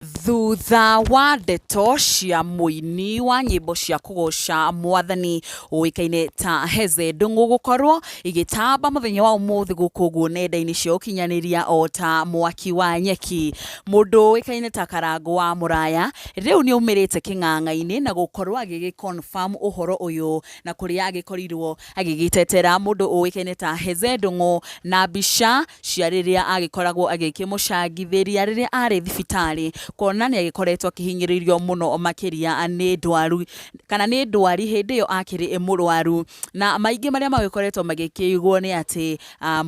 Thutha wa ndeto cia mũini wa nyĩmbo cia kũgoca mwathani ũĩkaine ta Heze Ndung'u gũkorwo igĩtamba mũthenya wa ũmũthĩ gũkũ guo nenda-inĩ cia ũkinyanĩria o ta mwaki wa nyeki, mũndũ ũĩkaine ta Karangũ wa Mũraya rĩu nĩ aumĩrĩte kĩng'ang'a-inĩ na gũkorwo agĩgĩ confirm ũhoro ũyũ na kũrĩa agĩkorirwo Agĩgĩtetera mũndũ ũĩkaine ta Hezee Ndung'u na mbica cia rĩrĩa agĩkoragwo agĩkĩmũcangithĩria rĩrĩa arĩ thibitarĩ, kuona nĩ agĩkoretwo akĩhinyĩrĩrio mũno makĩria nĩ ndwaru, kana nĩ ndwari hĩndĩ ĩyo akĩrĩ mũrwaru. Na maingĩ marĩa magĩkoretwo magĩkĩigwo nĩ atĩ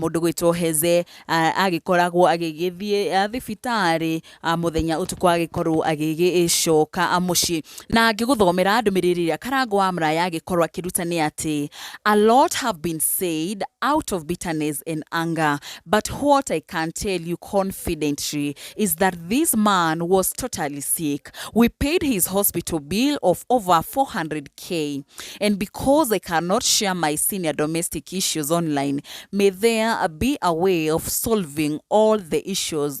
mũndũ ũgwĩtwo Hezee agĩkoragwo agĩgĩthiĩ thibitarĩ mũthenya ũtukũ agĩkorwo agĩgĩcoka mũciĩ na ngĩgũthomera ndũmĩrĩri ĩrĩa karango wa mraya agĩkorwo akĩruta nĩ atĩ a lot have been said out of bitterness and anger but what I can tell you confidently is that this man was totally sick we paid his hospital bill of over 400k and because I cannot share my senior domestic issues online may there be a way of solving all the issues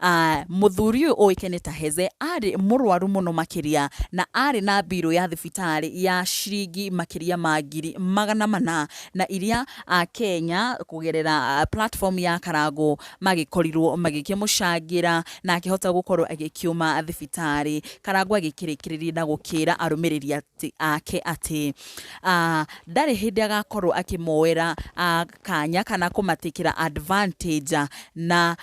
Ah, mũthuri ũyũ ũĩkaine ta Heze arĩ mũrwaru mũno makĩria na arĩ na mbirũ ya thibitarĩ ya ciringi makĩria ma ngiri magana mana na iria a Kenya kũgerera ah, platform ya Karangũ magĩkorirwo magĩkĩmũcangĩra na akĩhota gũkorwo agĩkiuma thibitarĩ. Karangũ agĩkĩrĩkĩrĩria na gũkĩra arũmĩrĩri atĩ- ake atĩ ah, ndarĩ hĩndĩ agakorwo akĩmoera ah, kanya kana kũmatĩkĩra advantage na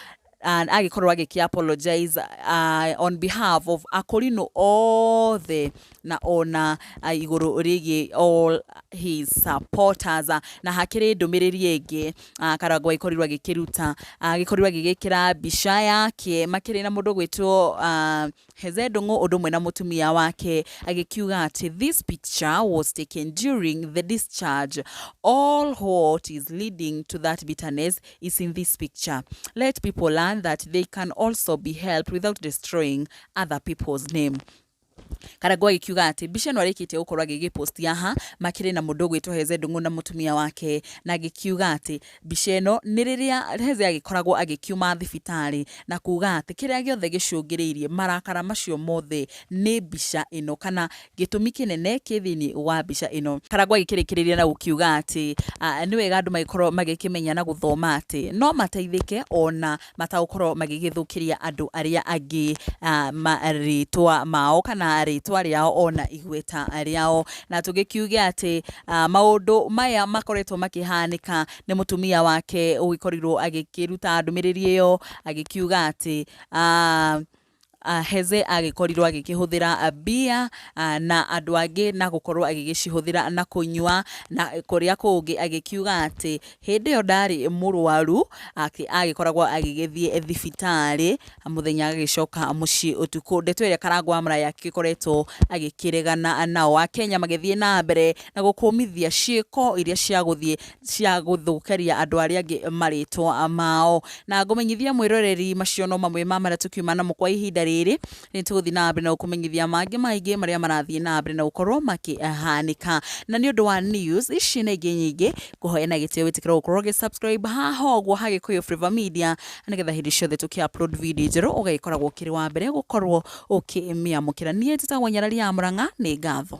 and agĩkorwo agĩkĩ apologize uh, on behalf of akorinũ othe na ona uh, igũrũ rĩgiĩ all his supporters uh, na hakĩrĩ ndũmĩrĩri ĩngĩ uh, karangwa ikorirwo agĩkĩruta agĩkorirwo agĩgĩkĩra mbica yake makĩrĩ na mũndũ gwĩtwo uh, Heze Ndung'u ũndũ ũmwe na mũtumia wake agĩkiuga atĩ this picture was taken during the discharge. All what is leading to that bitterness is in this picture. Let people learn that they can also be helped without destroying other people's name. Karangũ agĩkiuga atĩ mbica ĩno arĩkĩtie gũkorwo agĩgĩposti haha makĩrĩ na mũndũ ũgwĩtwo Heze Ndung'u na mũtumia wake na agĩkiuga atĩ Mbica ĩno nĩ rĩrĩa Hezeia agĩkoragwo agĩkiuma thibitarĩ na kuuga atĩ kĩrĩa gĩothe gĩcũngĩrĩirie marakara macio mothe nĩ mbica ĩno kana gĩtũmi kĩnene kĩ thĩinĩ wa mbica ĩno. Karangũ agĩkĩrĩkĩrĩria na gũkiuga atĩ nĩ wega andũ magĩkorwo magĩkĩmenya na gũthoma atĩ no mateithĩke ona matagũkorwo magĩgĩthũkĩria andũ arĩa angĩ marĩtwa mao kana rĩtwa rĩao ona igweta rĩao. Na tũgĩkiuge atĩ maũndũ maya makoretwo makĩhanĩka nĩ mũtumia wake ũgĩkorirwo agĩkĩruta ndũmĩrĩri ĩyo agĩkiuga atĩ Aheze agĩkorirũo agĩkĩhũthĩra mbia na andũ angĩ na gũkorũo agĩgĩcihũthĩra na kũnyua, na kũrĩa kũngĩ agĩkiuga atĩ hĩndĩ ĩyo ndarĩ mũrwaru, atĩ agĩkoragũo agĩgĩthiĩ thibitarĩ mũthenya agagĩcoka mũciĩ ũtukũ. Ndeto ĩrĩa Karangũ wa Mũraya agĩkoretwo agĩkĩregana nayo. Akenya magĩthiĩ na mbere na gũkũmithia ciĩko iria cia gũthiĩ cia gũthũkĩria andũ arĩa angĩ marĩtwa mao na ngũmenyithia mwĩroreri macio no mamwe ma marĩa tũkiuma namo kwa ihinda rĩrĩ nĩ tũgũthiĩ na mbere na gũkũmenyithia mangĩ maingĩ marĩa marathiĩ na mbere na gũkorwo makĩhanĩka na nĩ ũndũ wa news ici na ingĩ nyingĩ kũhoya na gĩtĩo wĩtĩkĩra gũkorwo gĩ subscribe haha ũguo ha Gĩkũyũ Flavour Media nĩgetha hĩndĩ ciothe tũkĩ upload video njerũ ũgagĩkoragwo ũkĩrĩ wa mbere gũkorwo ũkĩmĩamũkĩra niĩ njĩtagwo nyarari ya mũrang'a nĩ ngatho